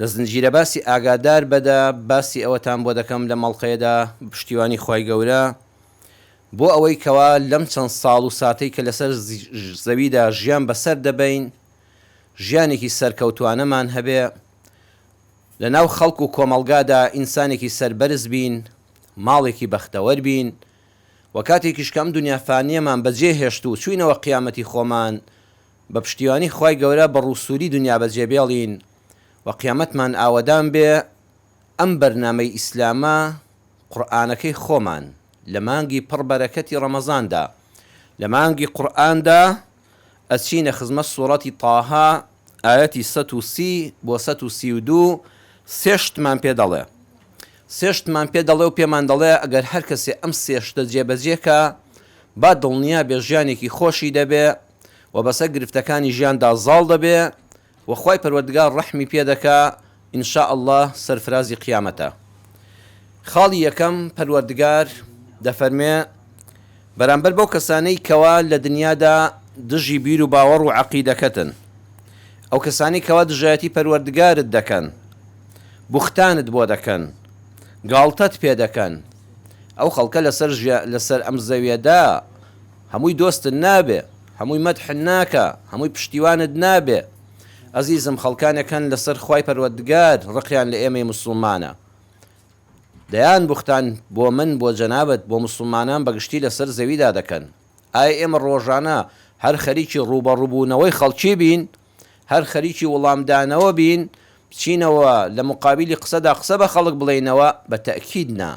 لە زنجیرە باسی ئاگادار بە دا باسی ئەوەتان بۆ دەکەم لەم ئەڵقەیە دا بە پشتیوانی خوای گەورە بۆ ئەوەی کەوا لەم چەند ساڵ و ساتەی کە لەسەر زەوی دا ژیان بەسەر دەبەین ژیانێکی سەرکەوتوانەمان هەبێ لە ناو خەڵک و کۆمەڵگا دا ئینسانێکی سەربەرز بین ماڵێکی بەختەوەر بین و کاتێکیش کە ئەم دونیا فانیەمان بە جێ هێشت و چوینەوە قیامەتی خۆمان بە پشتیوانی خوای گەورە بە ڕوسوری دنیا بەجێ بێڵین و قیامەتمان ئاوەدان بێ ئەم بەرنامەی ئیسلامە قوڕئانەکەی خۆمان لە مانگی پڕ بەرەکەتی ڕەمەزاندا لە مانگی قوڕئاندا ئەچینە خزمەت سوڕەتی طاها ئایەتی سەد و سی بۆ سەد و سی و دوو سێ شتمان پێ دەڵێ سێ شتمان پێ دەڵێ و پێمان دەڵێ ئەگەر هەر کەسێ ئەم سێ شتە جێ بەجێ کا با دڵنیا بێ ژیانێکی خۆشی دەبێ و بەسەر گرفتەکانی ژیاندا زاڵ دەبێ و خوای پەروەردگار ڕەحمی پێ دەکا ان شاء اللە سەرفرازی قیامەتە خاڵی یەکەم پەروەردگار دەفەرمێ بەرامبەر بەو کەسانەی کەوا لە دنیادا دژی بیر و باوەڕ و عەقیدەکەتن ئەو کەسانی کەوا دژایەتی پەروەردگارت دەکەن بوختانت بۆ دەکەن گاڵتەت پێ دەکەن ئەو خەڵکە لەسەر لەسەر ئەم زەویەدا هەمووی دۆستت نابێ هەمووی مەدحت ناکا هەمووی پشتیوانت نابێ ئەزیزم خەڵکانێک هەن لەسەر خوای پەروەردگار ڕقیان لە ئێمەی موسڵمانە دەیان بوختان بۆ من بۆ جەنابت بۆ موسڵمانان بە گشتی لەسەر زەویدا دەکەن ئایا ئێمە ڕۆژانە هەر خەریکی ڕووبەڕووبوونەوەی خەڵکی بین هەر خەریکی وڵامدانەوە بین بچینەوە لە مقابیلی قسەدا قسە بە خەڵک بڵێینەوە بە تەئکید نا.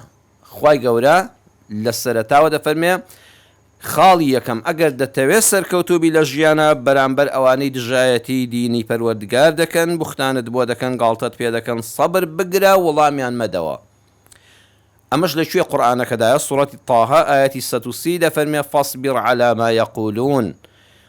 خوای گەورە لە سەرەتاوە دەفەرمێ، خاڵی یەکەم، ئەگەر دەتەوێت سەرکەوتوو بی لە ژیانا بەرامبەر ئەوانەی دژایەتی دینی پەروەردگار دەکەن، بوختانت بۆ دەکەن، گاڵتەت پێ دەکەن، سەبر بگرە وڵامیان مەدەوە. ئەمەش لە کوێ قورئانەکەدایە؟ سورەتی طه ئایەتی سەد و سی دەفەرمێ، فاصبر علی ما یقولون،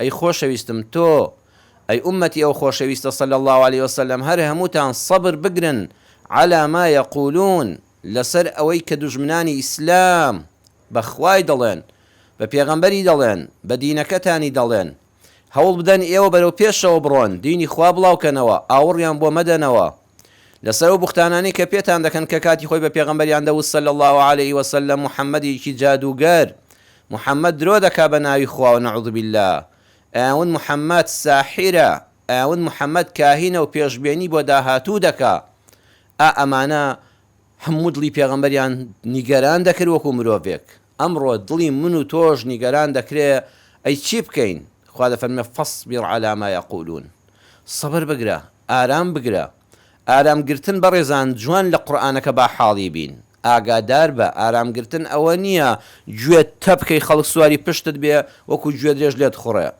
ئەی خۆشەویستم تۆ ئەی ئوممەتی ئەو خۆشەویستە صلی اللە علیە وسلم هەر هەمووتان صەبر بگرن علی ما یقولون لەسەر ئەوەی کە دوژمنانی ئیسلام بە خوای دەڵێن بە پێغەمبەری دەڵێن بە دینەکەتانی دەڵێن هەوڵ بدەن ئێوە بەرەو پێشەوە بڕۆن دینی خوا بڵاوکەنەوە ئاوڕیان بۆ مەدەنەوە لەسەر ئەو بوختانانەی کە پێتان دەکەن کە کاتی خۆی بە پێغەمبەریان دەوت صلی اللە علیە وسلم محمدێکی جادووگەر، محمد درۆ دەکا بە ناوی خواوە نعوذ باللە، ئەیانوت محمد ساحیرە، ئەیانوت محمد کاهینە و پێشبێنی بۆ داهاتوو دەکا، ئا ئەمانە هەموو دڵی پێغەمبەریان نیگەران دەکرد وەکو مرۆڤێک، ئەمڕۆ دڵی من و تۆش نیگەران دەکرێ، ئەی چی بکەین؟ خوا دەفەرموێ، فاصبر علی ما یقولون، سەبر بگرە، ئارام بگرە. ئارام گرتن بەڕێزان جوان لە قورئانەکە با حاڵی بین، ئاگادار بە، ئارام گرتن ئەوە نییە گوێت تەبکەی خەڵک سواری پشتت بێ وەکو گوێدرێژ لێت خوڕێ،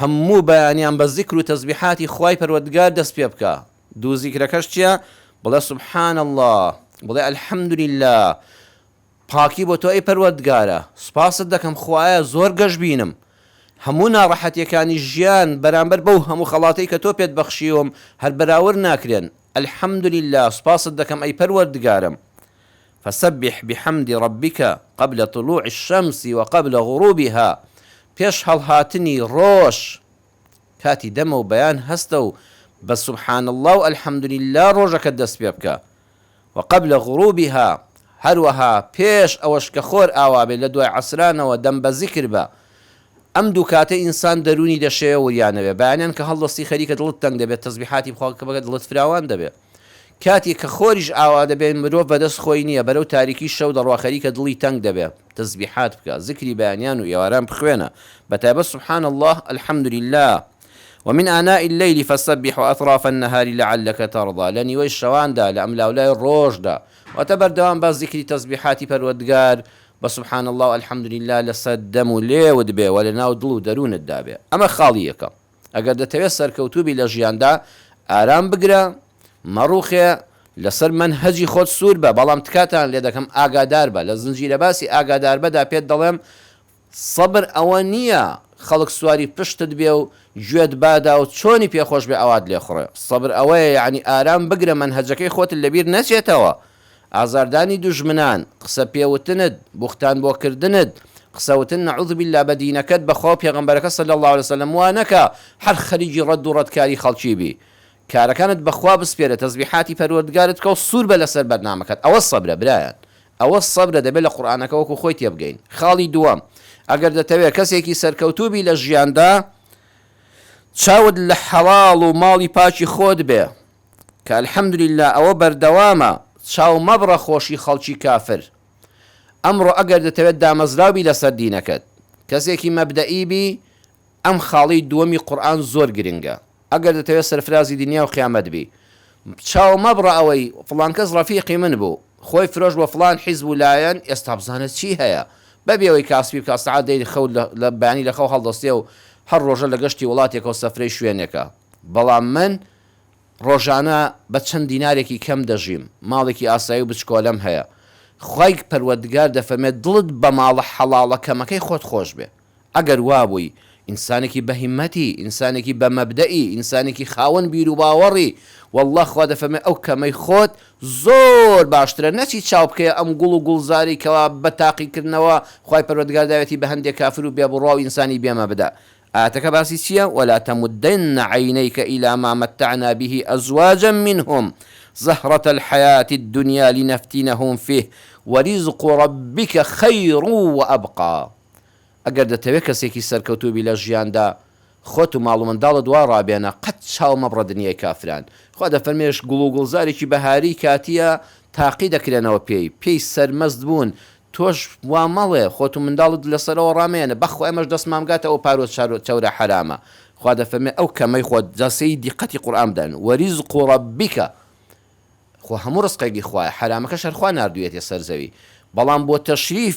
هەموو بەیانیان بە زیکر و تەزبیحاتی خوای پەروەردگار دەست پێ بکە، دوو زیکرەکەش چیە؟ بڵێ سبحان اللە، بڵێ الحمد للە، پاکی بۆ تۆ ئەی پەروەردگارە، سوپاست دەکەم خوایە زۆر گەشبینم، هەموو ناڕەحەتیەکانی ژیان بەرامبەر بەو هەموو خەڵاتەی کە تۆ پێت بەخشیوم هەر بەراورد ناکرێن، الحمد للە، سوپاست دەکەم ئەی پەروەردگارم، فسبح بحمد ربک قبل طلوع الشمس و قبل غروبها پێش هەڵهاتنی ڕۆژ کاتی دەمە و بەیان هەستە و بە سبحان اللە و الحمد للە ڕۆژەکەت دەست پێ بکە، و قبل غروبها هەروەها پێش ئەوەش کە خۆر ئاوا بێت لە دوای عەسرانەوە دەم بە زیکر بە، ئەم دوو کاتە ئینسان دەروونی دەشێوێ و وریانەوێ، بەیانیان کە هەڵدەستی خەریکە دڵت تەنگ دەبێت، تەزبیحاتی بخوا کە بکە دڵت فراوان دەبێ. کاتێ کە خۆریش ئاوا دەبێ مرۆڤ بەدەست خۆی نیە بەرەو تاریکی شەو دەڕوا خەریکە دڵی تەنگ دەبێ تەزبیحات بکە زکری بەیانیان و ئێواران بخوێنە بەتایبەت سبحان اللە الحمد للە ومن آناء اللیل فسبح وأطراف النهار لعلک ترضی لە نیوەی شەواندا لە ئەملاولای ڕۆژدا واتە بەردەوام بە زکری تەزبیحاتی پەروەردگار بە سبحان اللە و الحمد للە لەسەر دەم و لێوت بێ و لەناو دڵ و دەرونت دابێ ئەمە خاڵی یەکەم. ئەگەر دەتەوێت سەرکەوتوو بی لە ژیاندا، ئارام بگرە، مەڕوخێ، لەسەر مەنهەجی خۆت سوور بە، بەڵام تکاتان لێ دەکەم ئاگادار بە، لە زنجیرەباسی ئاگادار بەدا پێت دەڵێم سەبر ئەوە نییە خەڵک سواری پشتت بێ و گوێت بادا و چۆنی پێ خۆش بێ ئاوات لێ خوڕێ، سەبر ئەوەیە یەعنی ئارام بگرە مەنهەجەکەی خۆتت لەبیر نەچێتەوە، ئازاردانی دوژمنان، قسە پێ وتنت، بوختان بۆ کردنت، قسە وتن نعوذ باللە بە دینەکەت بە خوا و پێغەمبەرەکە صلی اللە علیە وسلم وا نەکە هەر خەریکی ڕەد و ڕەتکاری خەڵکی بی کارەکانت بە خوا بسپێرە تەزبیحاتی پەروەردگارت بکە و سوور بە لەسەر بەرنامەکەت ئەوە سەبرە برایان ئەوە سەبرە دەبێ لە قورئانەکە وەکو خۆی تێبگەین خاڵی دووەم ئەگەر دەتەوێ کەسێکی سەرکەوتوو بی لە ژیاندا چاوت لە حەڵاڵ و ماڵی پاکی خۆت بێ. کە الحمدللە ئەوە بەردەوامە چاو مەبڕە خۆشی خەڵکی کافر ئەمڕۆ ئەگەر دەتەوێت دامەزراو بی لەسەر دینەکەت کەسێکی مەبدەئی بی ئەم خاڵی دووەمی قورئان زۆر گرنگە ئەگەر دەتەوێت سەرفرازی دنیا و قیامەت بی چاو مەبڕە ئەوەی فڵان کەس ڕەفیقی من بوو خۆی فرۆشت بۆ فڵان حیزب و لایەن ئێستا بزانە چی هەیە بەبێ ئەوەی کاسپی بکات سەعات دەی خەو لە بەیانی لەخەو هەڵدەستێ و هەر ڕۆژە لە گەشتی وڵاتێکە و سەفرەی شوێنێکە بەڵام من ڕۆژانە بە چەند دینارێکی کەم دەژیم، ماڵێکی ئاسایی و بچکۆلەم هەیە. خوای پەروەردگار دەفەرمێت دڵت بە ماڵە حەڵاڵە کەمەکەی خۆت خۆش بێ. ئەگەر وا بووی ئینسانێکی بە هیمەتی، ئینسانێکی بە مەبدەئی، ئینسانێکی خاوەن بیروباوەڕی، وەڵڵا خوا دەفەرمێ ئەو کەمەی خۆت زۆر باشترە، نەچی چاو بکەیە ئەم گوڵ و گوڵزارەی کەوا بە تاقیکردنەوە خوای پەروەردگار داوێتی بە هەندێ کافر و بێبڕوا و ئینسانی بێ مەبدا. ئایەتەکە باسی چییە، ولا تمدن عینیک الی ما متعنا به ازواجا منهم زهرة الحیاة الدنیا لنفتنهم فیه ورزق ربک خیر و ابقی ئەگەر دەتەوێت کەسێکی سەرکەوتوو بی لە ژیاندا خۆت و ماڵ و منداڵت وا ڕابێنە قەت چاو مەبڕە دنیای کافران خوا دەفەرمێش گوڵ و گوڵزارێکی بەهاری کاتییە تاقی دەکرێنەوە پێی پێی سەرمەست بوون تۆش وا مەڵێ خۆت و منداڵت لەسەرەوە ڕامێنە بەخوا ئێمەش دەستمان بگاتە ئەو پارو چەورە حەرامە خوا دەفەرمێ ئەو کەمەی خۆت جا سەیری دیقەتی قورئان بدەن وەریزق ربک خۆ هەموو ڕزقێکی خوایە حەرامەکەش هەر خوا ناردویەتیە سەر زەوی بەڵام بۆ تەشریف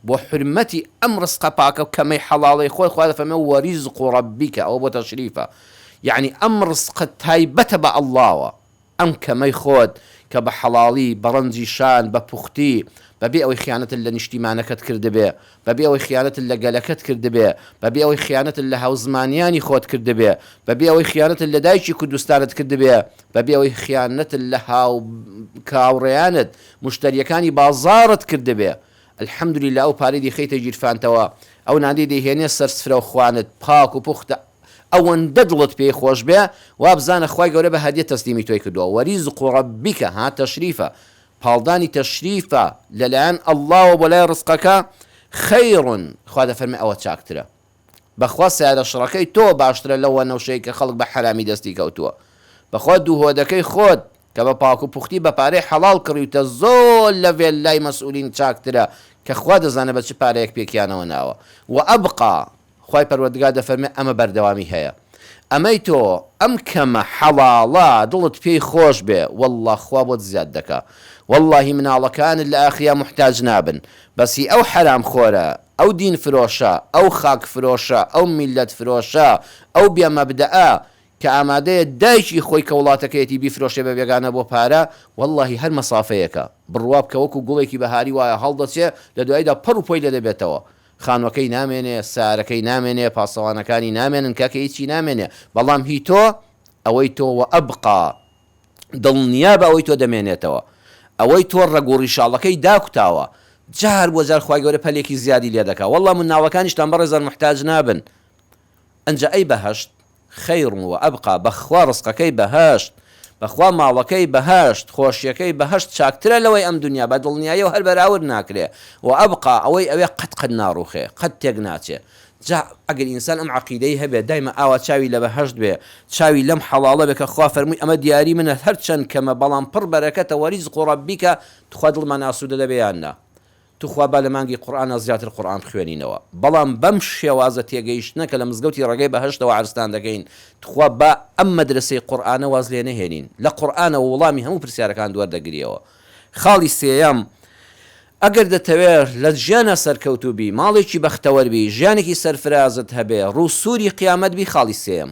بۆ حورمەتی ئەم ڕزقە پاکە و کەمەی حەڵاڵەی خۆت خوا دەفەرمێ وەریزق ربک ئەوە بۆ تەشریفە یەعنی ئەم ڕزقە تایبەتە بە اللە وە ئەم کەمەی خۆت کە بە حەڵاڵی، بە ڕەنجی شان، بە پوختی، بە بێ ئەوەی خیانەتت لە نیشتیمانەکەت کردبێ، بە بێ ئەوەی خیانەتت لە گەلەکەت کردبێ، بە بێ ئەوەی خیانەتت لە هاوزمانیانی خۆت کردبێ، بە بێ ئەوەی خیانەتت لە دایکی کوردستانت کردبێ، بە بێ ئەوەی خیانەتت لە هاو کاوڕێیانت، مشتەریەکانی بازاڕت کردبێ، الحمدللە ئەو پارەی دەیخەیتە گیرفانتەوە، ئەو نانەی دەیهێنێ سەر سفرەو خوانت پاک و پوختە، ئەوەندە دڵت پێی خۆش بێ وابزانە خوای گەورە بە هەدیە تەسلیمی تۆی کردوە وریزق ربک ها تشریفە پاڵدانی تەشریفە لەلایەن اللەوە بۆ لای رزقەکە خیر خوا دەفەرمێ ئەوە چاکترە بەخوا سەیارە شڕەکەی تۆ باشترە لەو وەنەوشەی کە خەڵک بە حەرامی دەستی کەوتوە بەخوا دوو هۆدەکەی خۆت کە بە پاکو پوختی بە پارەی حەڵاڵ کڕیوتە زۆر لە ڤێللای مەسئولین چاکترە کە خوا دەزانێ بە چ پارەیەک پێکیانەوە ناوە وە ئەبقا خوای پەروەردگار دەفەرمێ ئەمە بەردەوامی هەیە ئەمەی تۆ ئەم کەمە حەڵاڵە دڵت پێی خۆش بێ واللە خوا بۆت زیاد دەکا واللەهی مناڵەکانت لە ئاخیا موحتاج نابن بەس هی ئەو حەرام خۆرە ئەو دین فرۆشە ئەو خاک فرۆشە ئەو میلەت فرۆشە ئەو بێ مەبدەئ کە ئامادەیە دایکی خۆی کە وڵاتەکەیەتی بیفرۆشێ بە بێگانە بۆ پارە واللەهی هەر مەسافەیەکە بڕوابکە وەکو گوڵێکی بەهاری وایە هەڵدەچێ لە دواییدا پەڕ و پۆی لێ دەبێتەوە خانوەکەی نامێنێ سارەکەی نامێنێ پاسەوانەکانی نامێنن کاکە هیچی نامێنێ بەڵام هی تۆ ئەوەی تۆ وەئەبقا دڵنیابە ئەوەی تۆ دەمێنێتەوە ئەوەی تۆ ڕەگ و ڕیشاڵەکەی داکوتاوە جار بۆ جار خوای گەورە پەلێکی زیادی لێ دەکا واللە مناڵەکانیشتان بەڕێزان محتاج نابن ئنجا ئەی بەهەشت خیر و ابقا بەخوا ڕزقەکەی بەهەشت بەخوا ماڵەکەی بەهەشت خۆشیەکەی بەهەشت چاکترە لەوەی ئەم دنیا بەدڵنیایەوە هەر بەراورد ناکرێ و ابقا ئەوەی ئەوێ قەت قەت ناڕوخێ قەت تێک ناچێ جا ئەگەر ئینسان ئەم عەقیدەی هەبێ دایمە ئاوا چاوی لە بەهەشت بێ چاوی لەم حەڵاڵە بێ کە خوا فەرمووی ئەمە دیاری منە هەرچەند کەمە بەڵام پڕ بەرەکەتە وەریزق و ڕەبیکە توخوا دڵمان ئاسوودە دەبێ یان نا توخوا با لە مانگی قورئانا زیاتر قورئان بخوێنینەوە بەڵام بەم شێوازە تێگەیشتنە کە لە مزگەوتی ڕێگەی بەهەشتەوە عەرزتان دەکەین توخوا با ئەم مەدرەسەی قورئانە واز لێ نەهێنین لە قورئانەوە وڵامی هەموو پرسیارەکانت وەردەگریەوە خاڵی سێیەم ئەگەر دەتەوێ لە ژیانا سەرکەوتوو بی ماڵێکی بەختەوەر بی ژیانێکی سەرفرازت هەبێ ڕوو سووری قیامەت بی خاڵی سێیەم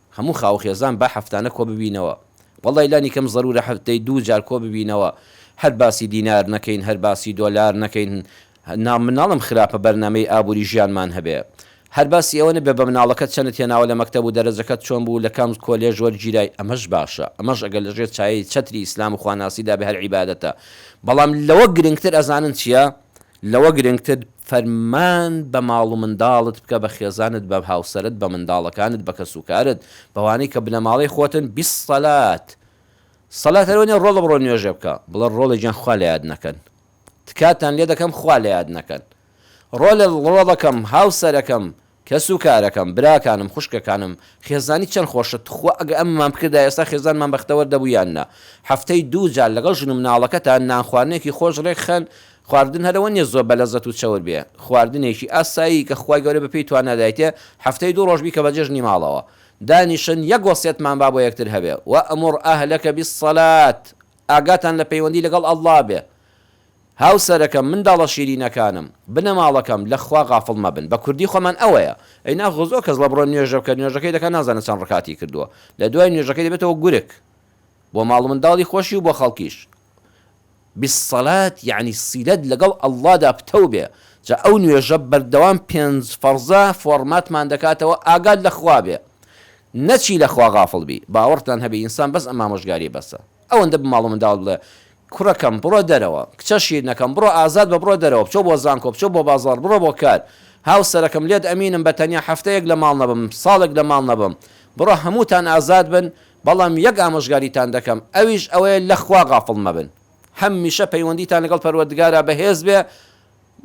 هەموو خاووخێزان با هەفتانە کۆببینەوە وەڵای لانی کەم زەرورە هەفتەی دوو جار کۆببینەوە هەر باسی دینار نەکەین هەر باسی دۆلار نەکەین نا مناڵم خراپە بەرنامەی ئابوری ژیانمان هەبێ هەر باسی ئەوە نەبێ بە مناڵەکەت چەنت هێناوە لە مەکتەب و دەرەجەکەت چۆن بوو لە کام کۆلێژ وەرگیرای ئەمەش باشە ئەمەش ئەگەر لە ژێر چایەی چەتری ئیسلام و خواناسیدا بێ هەر عیبادەتە بەڵام لەوە گرنگتر ئەزانن چیە لەوە گرنگتر فەرمان بە ماڵ و منداڵت بکە بە خێزانت بە هاوسەرت بە منداڵەکانت بە کەس و کارت بەوانەی کە بنەماڵەی خۆتن بیسەلات سەلات هەر وەنیە ڕۆڵە بڕۆ نوێژێ بکە بڵێ ڕۆڵە گیان خوا لە یاد نەکەن تکاتان لێ دەکەم خوا لە یاد نەکەن ڕۆلە ڕۆڵەکەم هاوسەرەکەم کەس و کارەکەم، براکانم، خوشکەکانم، خێزانی چەند خۆشە، توخوا ئەگەر ئەمەمان بکردایە ئێستا خێزانمان بەختەوەر دەبوو یان نا؟ هەفتەی دوو جار لەگەڵ ژن و مناڵەکەتان نان خواردنێکی خۆش ڕێک خەن، خواردن هەر ئەوە نیە زۆر بە لەزەت و چەور بێ، خواردنێکی ئاسایی کە خوای گەورە بە پێی توانا دایتێ، هەفتەی دوو ڕۆژ بیکە بە جێژنی ماڵەوە دانیشن یەک وەسیەتمان با بۆ یەکتر هەبێ، وامر اهلک بالصلاة، ئاگاتان لە پەیوەندی لەگەڵ اللە بێ، هاوسەرەکەم، منداڵە شیرینەکانم، بنەماڵەکەم، لە خوا غافڵ مەبن. بە کوردی خۆمان ئەوەیە. ئەی ناخۆ زۆر کەس ڵەبڕۆ نوێژە بکە، نوێژەکەی دەکا نازانێ چەند ڕکاتی کردووە. لە دوای نوێژەکەی دەبێتەوە گورگ. بۆ ماڵ و منداڵی خۆشی و بۆ خەڵکیش. بالصلاة یەعنی سیلەت لەگەڵ اللەدا پتەو بێ. جا ئەو نوێژە بەردەوام پێنج فەڕزە فۆڕماتمان دەکاتەوە ئاگات لە خوا بێ. نەچی لە خوا غافڵ بی. باوەڕتان هەبێ ئینسان بەس ئەم ئامۆژگاریە بەسە. ئەوەندە بە ماڵ و منداڵت بڵێ، کوڕەکەم بڕۆ دەرەوە، کچە شیرنەکەم بڕۆ ئازاد بە، بڕۆ دەرەوە، بچۆ بۆ زانکۆ، بچۆ بۆ بازاڕ، بڕۆ بۆ کار، هاوسەرەکەم لێت ئەمینم بە تەنیا هەفتەیەک لە ماڵ نەبم، ساڵێک لە ماڵ نەبم، بڕۆ هەمووتان ئازاد بن، بەڵام یەک ئامۆژگاریتان دەکەم، ئەویش ئەوەیە لە خوا غافڵ مەبن، هەمیشە پەیوەندیتان لەگەڵ پەروەردگارا بەهێز بێ،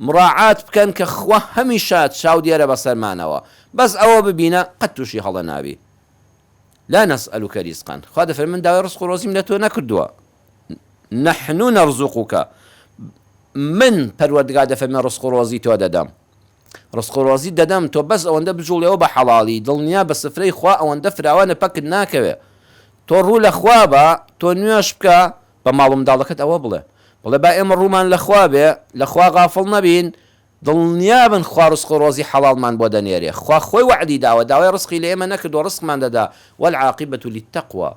مڕاعات بکەن کە خوا هەمیشە چاودێرە بەسەرمانەوە، بەس ئەوە ببینە قەت تووشی هەڵە نابی. لا نسئلک رزقا، خوا دەفەرمێ من داوای رزق و رۆزیم لە تۆ نەکردووە، نحن نرزقک، من پەروەردگار دەفەرمێ رزق و رۆزی تۆ دەدەم، رزق و رۆزیت دەدەم تۆ بەس ئەوەندە بجوڵێوە بە حەڵاڵی، دڵنیا بە سفرەی خوا ئەوەندە فراوانە پەکت ناکەوێ، تۆ روو لە خوا بە، تۆ نوێژ بکە، بە ماڵ و منداڵەکەت ئەوە بڵێ، بڵێ با ئێمە روومان لە خوا بێ، لە خوا غافڵ نەبین، دڵنیابن خوا ڕزق و ڕۆزی حەڵاڵمان بۆ دەنێرێ خوا خۆی وەعدی داوە داوای ڕزقی لە ئێمە نەکردووە ڕزقمان دەدا، والعاقبە للتقوی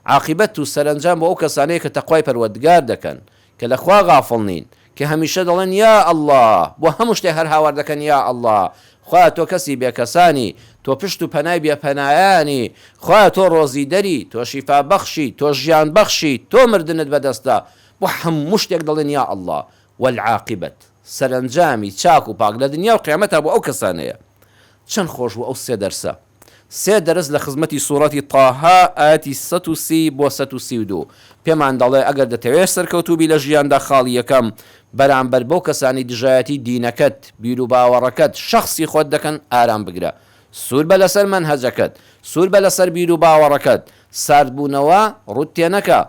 عاقبەت و سەرەنجام بۆ ئەو کەسانەیە کە تەقوای پەروەردگار دەکەن کە لە خوا غافڵ نین کە هەمیشە دەڵێن یا اللە بۆ هەموو شتێ هەر هاوار دەکەن یا اللە خوایە تۆ کەسی بێکەسانی تۆ پشت و پەنای بێ پەنایانی خوایە تۆ ڕۆزیدەری تۆ شیفا بەخشی تۆ ژیان بەخشی تۆ مردنت بەدەستە بۆ هەموو شتێک دەڵێن یا اللە والعاقبە سەرەنجامی چاک و پاک لە دنیا و قیامەتا بۆ ئەو کەسانەیە. چەند خۆش بوو ئەو سێ دەرسە. سێ دەرس لە خزمەتی سوڕەتی طه ئایەتی سەد و سی بۆ سەد و سی و دوو پێمان دەڵێ ئەگەر دەتەوێ سەرکەوتوو بی لە ژیاندا خاڵی یەکەم بەرامبەر بەو کەسانەی دژایەتی دینەکەت، بیروباوەڕەکەت، شەخسی خۆت دەکەن ئارام بگرە. سوور بە لەسەر مەنهەجەکەت. سوور بە لەسەر بیروباوەڕەکەت. ساردبوونەوە ڕووت تێنەکە.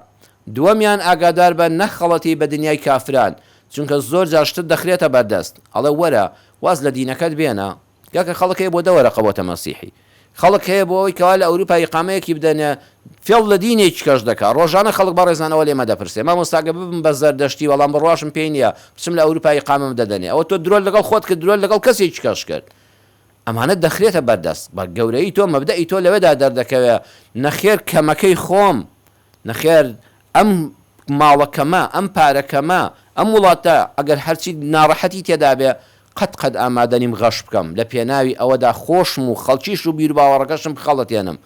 دووەمیان ئاگادار بە نەخەڵەتێی بە دنیای کافران. چونکە زۆر جار شتت دەخرێتە بەردەست ئەڵێ وەرە واز لە دینەکەت بێنە گاکە خەڵک هەیە بۆ دە وەرەقە بۆتە مەسیحی خەڵک هەیە بۆ ئەوەی کەوا لە ئەوروپا ئیقامەیەکی بدەنێ فێڵ لە دینێکیکەش دەکا ڕۆژانە خەڵک بەڕێزان ئەوە لێمە دەپرسێ مامۆستا گەر ببم بە زەردەشتی بەڵام بڕواشم پێی نیە بچم لە ئەوروپا ئیقامەم دەدەنێ ئەوە تۆ درۆت لەگەڵ خۆت کرد درۆت لەگەڵ کەسێکیکەش کرد ئەمانە دەخرێتە بەردەست بە گەورەیی تۆ مەبدەئی تۆ لەوێدا دەردەکەوێ نەخێر کەمەکەی خۆم نەخێر ئەم ماڵە کەمە، ئەم پارە کەمە، ئەم وڵاتە ئەگەر هەرچی ناڕەحەتی تێدابێ قەت قەت ئامادەنیم غەش بکەم، لە پێناوی ئەوەدا خۆشم و خەڵکیش و بیروباوەڕەکەشم بخەڵەتێنم.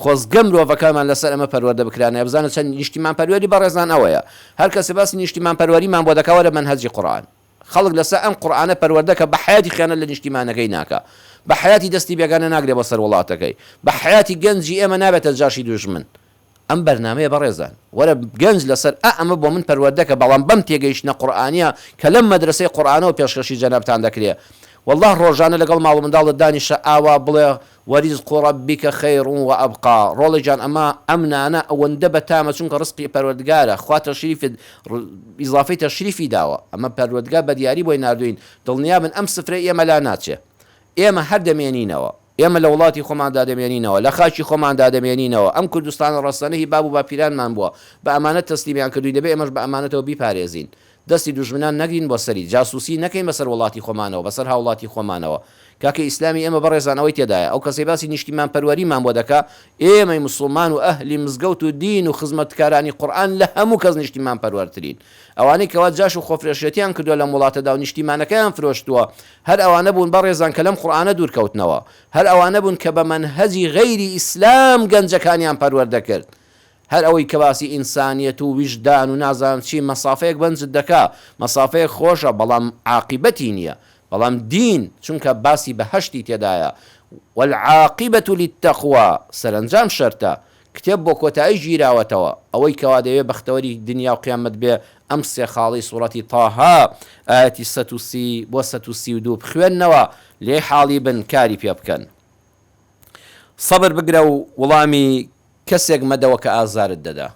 خۆزگە مرۆڤەکانمان لەسەر ئەمە پەروەردە بکرانایە، بزانە چەند نیشتیمانپەروەری بەڕێزان ئەوەیە. هەر کەسێ باسی نیشتیمانپەروەریمان بۆ دەکا وەرە مەنهەجی قورئان. خەڵک لەسەر ئەم قورئانە پەروەردە کە بە حەیاتی خیانەت لە نیشتیمانەکەی ناکا. بە حەیاتی دەستی بێگانە ناگرێ بۆ سەر وڵاتەکەی. بە حەیاتی گەنجی ئێمە نابێتە جاشی دوژمن. ئەم بەرنامەیە بەڕێزان. وەرە گەنج لەسەر ئا ئەمە بۆ من پەروەردەکە بەڵام بەم تێگەیشتنە قورئانیە کە لەم مەدرەسەی قورئانەوە پێشکەشی جەنابتان دەکرێ واللە ڕۆژانە لەگەڵ ماڵ و منداڵت دانیشە ئاوا بڵێ وریزق ربک خیر و ابقا ڕۆڵە گیان ئەمە ئەم نانە ئەوەندە بەتامە چونکە ڕزقی پەروەردگارە خوا تەشریفت ئیزافەی تەشریفی داوە ئەمە پەروەردگار بەدیاری بۆی ناردوین دڵنیابن ئەم سفرەی ئێمە لا ناچێ ئێمە هەر دەمێنینەوە. ئێمە لە وڵاتی خۆماندا دەمێنینەوە، لە خاکی خۆماندا دەمێنینەوە. ئەم کوردستانە ڕەسەنە هی باب و باپیرانمان بووە. بە ئەمانەت تەسلیمیان کردووین، دەبێت ئێمەش بە ئەمانەتەوە بیپارێزین. دەستی دوژمنان نەگرین بۆ سەری. جاسووسی نەکەین بەسەر وڵاتی خۆمانەوە، بەسەر هاوڵاتی خۆمانەوە. کاکە ئیسلامی ئێمە بەڕێزان ئەوەی تێدایە، ئەو کەسەی باسی نیشتیمانپەروەریمان بۆ دەکا، ئێمەی موسڵمان و ئەهلی مزگەوت و دین و خزمەتکارانی قورئان لە هەموو کەس نیشتیمانپەروەرترین. ئەوانەی کەوا جاش و خۆفرۆشێتیان کردووە لەم وڵاتەدا و نیشتیمانەکەیان فرۆشتووە، هەر ئەوانە بوون بەڕێزان کە لەم قورئانە دوور کەوتنەوە. هەر ئەوانە بوون کە بە مەنهەجی غەیری ئیسلام گەنجەکانیان پەروەردە کرد. هەر ئەوەی کە باسی ئینسانیەت و ویژدان و نازانم چی، مەسافەیەک بەنجت دەکا، مەسافەیەک خۆشە، بەڵام عاقیبەتی نییە. بەڵام دین، چونکە باسی بەهەشتی تێدایە، والعاقبە للتقوی، سەرەنجام شەرتە، کتێب بۆ کۆتایی گیراوەتەوە. ئەوەی کەوا دەیەوێ بەختەوەری دنیا و قیامەت بێ ئەم سێ خاڵەی سوڕەتی طه، ئایەتی سەد و سی بۆ سەد و سی و دوو بخوێننەوە، لێی حاڵی بن، کاری پێ بکەن. سەبر بگرە و وڵامی کەسێک مەدەوە کە ئازارت دەدا.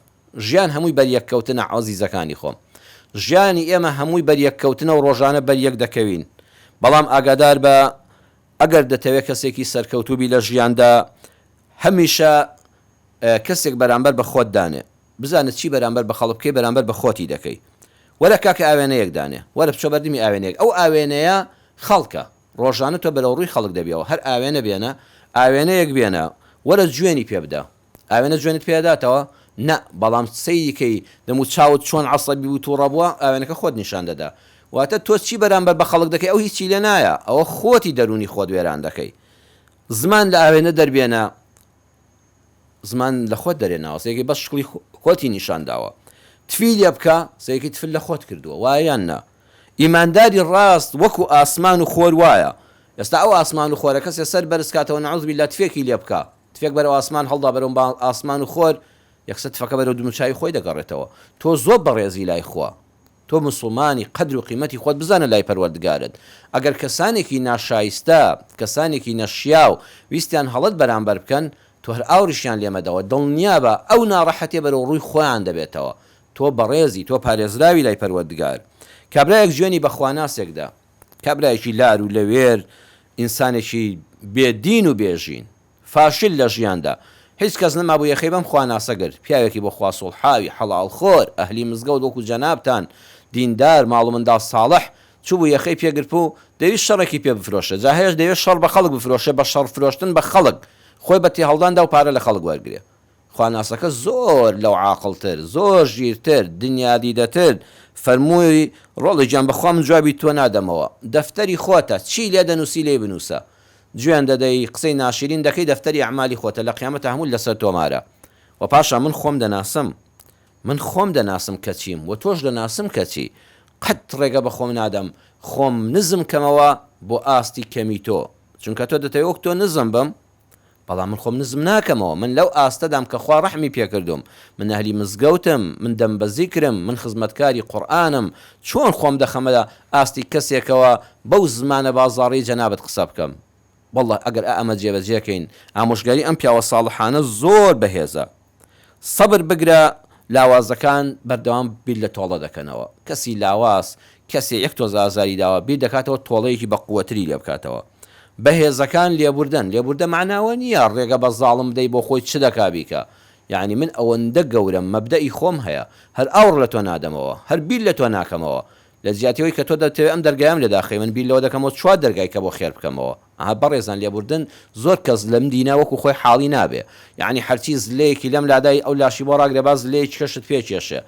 ژیان هەمووی بەریەک کەوتنە عەزیزەکانی خۆم. ژیانی ئێمە هەمووی بەریەک کەوتنە و ڕۆژانە بەریەک دەکەوین. بەڵام ئاگادار بە ئەگەر دەتەوێت کەسێکی سەرکەوتوو بی لە ژیاندا، هەمیشە کەسێک بەرامبەر بە خۆت دانێ. بزانە چی بەرامبەر بە خەڵک بکەی، بەرامبەر بە خۆتی دەکەی. وەرە کاکە ئاوێنەیەک دانێ. وەرە بچۆ بەردمی ئاوێنەیەک. ئەو ئاوێنەیە خەڵکە. ڕۆژانە تۆ بەرەوڕووی خەڵک دەبیەوە. هەر ئاوێنە بێنە. ئاوێنەیەک بێنە. وەرە جوێنی پێ بدە. ئاوێنە جوێنت پێ ئەداتەوە؟ نا، بەڵام سەیری کەی دەم و چاوت چۆن عەسەبی و توڕە بووە ئاوێنەکە خۆت نیشان دەدا. واتە تۆ چی بەرامبەر بە خەڵک دەکەی ئەو هیچی لێ نایە، ئەوە خۆتی دەروونی خۆت وێران دەکەی. زمان لە ئاوێنە دەربێنە زمان لە خۆت دەرێناوە سەیرکەی بەس شکڵی خۆتی نیشان داوە. تفی لێ بکە سەیرکەی تفت لە خۆت کردووە وایە یان نا؟ ئیمانداری ڕاست وەکو ئاسمان و خۆر وایە. ئێستا ئەو ئاسمان و خۆرە کەسێ سەر بەرز کاتەوە نعوذ باللە تفێکی لێ بکە تفێک بەرەو ئاسمان هەڵدا بەرەو با ئاسمان و خۆر یەکسەر تفەکە بەرەو دموچاوی خۆی دەگەڕێتەوە تۆ زۆر بەڕێزی لای خوا تۆ موسڵمانی قەدر و قیمەتی خۆت بزانە لای پەروەردگارت ئەگەر کەسانێکی ناشایستە کەسانێکی نەشیاو ویستیان هەڵەت بەرامبەر بکەن تۆ هەر ئاوڕیشیان لێ مەدەوە دڵنیابە ئەو ناڕەحەتیە بەرەو ڕووی خۆیان دەبێتەوە تۆ بەڕێزی تۆ پارێزراوی لای پەروەردگار کابرایەک جوێنی بە خواناسێک دا. کابرایەکی لار و لەوێر، ئینسانێکی بێ دین و بێ ژین. فاشل لە ژیاندا. هیچ کەس نەمابوو یەخەی بەم خواناسە گرت. پیاوێکی بۆ خوا سوڵحاوی، حەڵاڵخۆر، ئەهلی مزگەوت وەکوو جەنابتان، دیندار، ماڵ و منداڵ ساڵح، چووبوو یەخەی پێ گرتبوو و دەویست شەڕێکی پێ بفرۆشێ. جا هەیەش دەیەوێ شەڕ بە خەڵک بفرۆشێ، بە شەڕفرۆشتن بە خەڵک، خۆی بە تێهەڵدان دا و پارە لە خەڵک وەرگرێ. خواناسەکە زۆر لەو عاقڵتر، زۆر ژیرتر، دنیادیدەتر، فەرمووی، ڕۆڵی گیان بەخوا من جوابی تۆ نادەمەوە، دەفتەری خۆتە، چی لێ دەنووسی لێی بنووسە. جوێن دەدەی، قسەی ناشیرین دەکەی دەفتەری ئەعمالی خۆتە، لە قیامەتا هەمووت لەسەر تۆمارە. وە پاشان من خۆم دەناسم. من خۆم دەناسم کە چیم و تۆش دەناسم کە چی. قەت ڕێگە بە خۆم نادەم خۆم نزم کەمەوە بۆ ئاستی کەمی تۆ. چونکە تۆ دەتەوێ وەک تۆ نزم بم؟ بەڵام من خۆم نزم ناکەمەوە، من لەو ئاستەدام کە خوا ڕەحمی پێکردووم، من ئەهلی مزگەوتم، من دەم بە زیکرم، من خزمەتکاری قورئانم، چۆن خۆم دەخەمە ئاستی کەسێکەوە بەو زمانە بازاڕیەی جەنابت قسە بکەم؟ وەڵڵە ئەگەر ئائەمە جێبەجێ کەین ئامۆژگاری ئەم پیاوە ساڵحانە زۆر بەهێزە. سەبر بگرە لاوازەکان بەردەوام بیر لە تۆڵە دەکەنەوە کەسی لاواز کەسێ یەک تۆز ئازاری داوە بیر دەکاتەوە تۆڵەیەکی بە قوەتری لێ بکاتەوە بەهێزەکان لێبوردەن لێبوردە مەعنا ئەوە نیە ڕێگە بە زاڵم بدەی بۆ خۆی چ دەکا بیکا یەعنی من ئەوەندە گەورەم مەبدەئی خۆم هەیە هەر ئاوڕ لە تۆ نادەمەوە هەر بیر لە تۆ ناکەمەوە لە جیاتی ئەوەی کە تۆ دەتەوێت ئەم دەرگایەم لێ داخەی من بیر لەوە دەکەمەوە چوار دەرگای کە بۆ خێر بکەمەوە ئەها بەڕێزان لێبوردن زۆر کەس لەم دینە وەکو خۆی حاڵی نابێ یانی هەرچی زلەیەکی لەم لادای ئەو لاشی بۆ ڕاگرە با زلەیەکیکەشت پێ کێشێ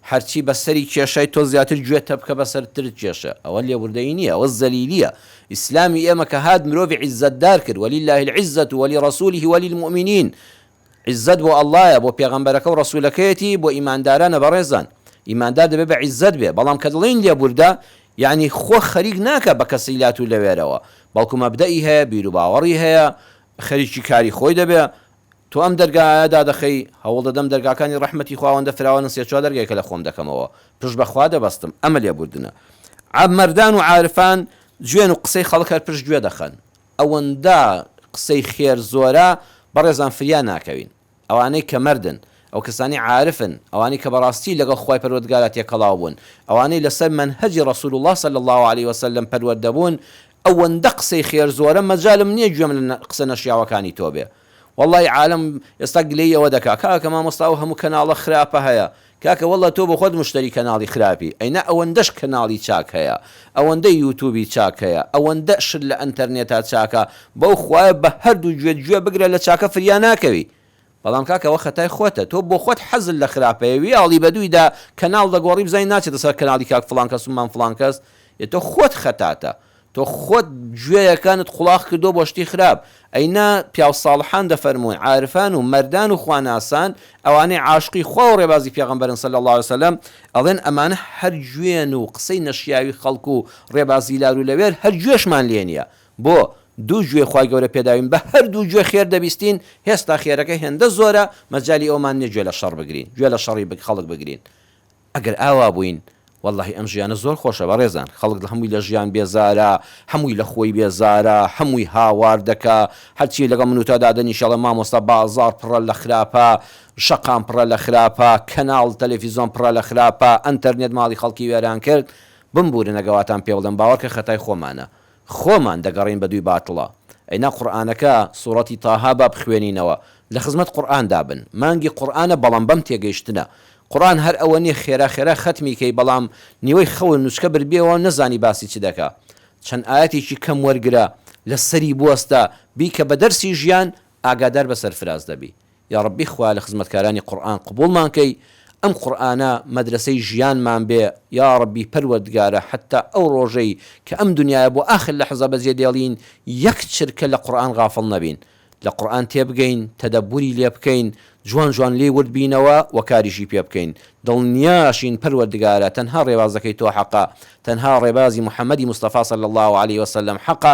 هەرچی بە سەری کێشای تۆ زیاتر گوێ تەپکە بە سەر ترت کێشێ ئەوە لێبوردەیی نیە ئەوە زەلیلیە ئیسلامی ئێمە کە هات مرۆڤی عیزەتدار کرد وللە العزە ولرسوله وللمومنین عیززەت بۆ اللە بۆ پێغەمبەرەکە و ڕەسولەکەیەتی بۆ ئیماندارانە بەڕێزان ئیماندار دەبێ بە عیززەت بێ بەڵام کە دەڵێین لێبوردە یەعنی خۆ خەریک ناکا بە کەسی لات و لەوێرەوە بەڵکو مەبدەئی هەیە بیرو باوەڕی هەیە خەریکی کاری خۆی دەبێ تۆ ئەم دەرگایە دادەخەی هەوڵ دەدەم دەرگاکانی ڕەحمەتی خواوەندە فراوانن سێ چوار دەرگای کە لە خۆم دەکەمەوە پشت بە خوا دەبەستم ئەمە لێبوردنە عە مەردان و عارفان جوێن و قسەی خەڵک هەر پشت گوێ دەخەن ئەوەندە قسەی خێر زۆرە بەڕێزان فریا ناکەوین ئەوانەی کە مەردن ئەوکەسانەی عارفن ئەوانەی کە بەڕاستی لەگەڵ خوای پەروەردگارا تێکەڵاو بوون ئەوانەی لەسەر مەنهەجی ڕسول اللە صلی اللە علیە وسلم پەروەردە بوون ئەوەندە قسەی خێر زۆرە مەجالم نیە گوێم لە قسە نەشیاوەکانی تۆ بێ وەڵڵا ی عالەم ئێستا گلەی ئەوە دەکا کاکە مامۆستا ئەو هەموو کەناڵە خراپە هەیە کاکە وەڵڵا تۆ بۆخۆت مشتەری کەناڵی خراپی ئەینا ئەوەندەش کەناڵی چاک هەیە ئەوەندە یوتوبی چاک هەیە ئەوەندە شت لە ئەنتەرنێتا چاکە بەو خوایە بە هەردوو گوێت گوێ بگرە لە چاکە فریا ناکەوی بەڵام کاکە ئەوە خەتای خۆتە تۆ بۆخۆت حەزت لە خراپەیە ویاڵی بەدوویدا کەناڵ دەگۆڕی بزانی ناچێتە سەر کەناڵی کاک فڵان کەس و مام فڵان کەس ئێ تۆ خۆت خەتاتە تۆ خۆت گوێیەکانت قوڵاخ کردوە بۆ شتی خراپ ئەی نا پیاو ساڵحان دەفەرموون عارفان و مەردان و خواناسان ئەوانەی عاشقی خوا و ڕێبازی پێغەمبەرن صلی اللە علیە وسلم ئەڵێن ئەمانە هەر گوێن و قسەی نەشیاوی خەڵک و ڕێبازی لار و لەوێر هەر گوێشمان لێ نیە بۆ دوو گوێ خوای گەورە پێداوین بە هەردوو گوێ خێر دەبیستین هێستا خێرەکە هێندە زۆرە مەجالی ئەومان نیە گوێ لە شەڕ بگرین گوێ لە شەڕی خەڵک بگرین ئەگەر ئاوا بووین وەڵاهی ئەم ژیانە زۆر خۆشە بەڕێزان خەڵک هەمووی لە ژیان بێزارە هەمووی لە خۆی بێزارە هەمووی هاوار دەکا هەرچی لەگەڵ من و تا دادەنیشێ ئەڵێ مامۆستا بازاڕ پڕە لە خراپە شەقام پڕە لە خراپە کەناڵ تەلەفیزۆن پڕە لە خراپە ئەنتەرنێت ماڵی خەڵکی وێران کرد بمبوورنە گەواتان پێ بڵێم باوەڕکە خەتای خۆمانە خۆمان دەگەڕێین بەدووی باتڵە. ئەینا قورئانەکە سورەتی طه با بخوێنینەوە لە خزمەت قورئان دا بن مانگی قورئانە بەڵام بەم تێگەیشتنە قورئان هەر ئەوە نیە خێرا خێرا خەتمی کەی بەڵام نیوەی خەون نوچکە بردبیەوە نەزانی باسی چ دەکا چەند ئایەتێکی کەم وەرگرە لەسەری بوەستە بیکە بە دەرسی ژیان ئاگادار بە سەرفراز دەبی یاڕەبی خوا لە خزمەتکارانی قوڕئان قبوڵمان کەی ئەم قوڕئانە مەدرەسەی ژیانمان بێ یاڕەبی پەروەردگارە حەتا ئەو ڕۆژەی کە ئەم دنیایە بۆ ئاخر لەحزە بەجێ دێڵین یەک چرکە لە قوڕئان غافڵ نەبین لە قوڕئان تێبگەین تەدەبوری لێ بکەین جوان جوان لێی ورد بینەوە وە کاریشی پێ بکەین دڵنیاشین پەروەردگارە تەنها ڕێبازەکەی تۆ حەقە تەنها ڕێبازی محمدی مستەفا صلی اللە علیە وسلم حەقە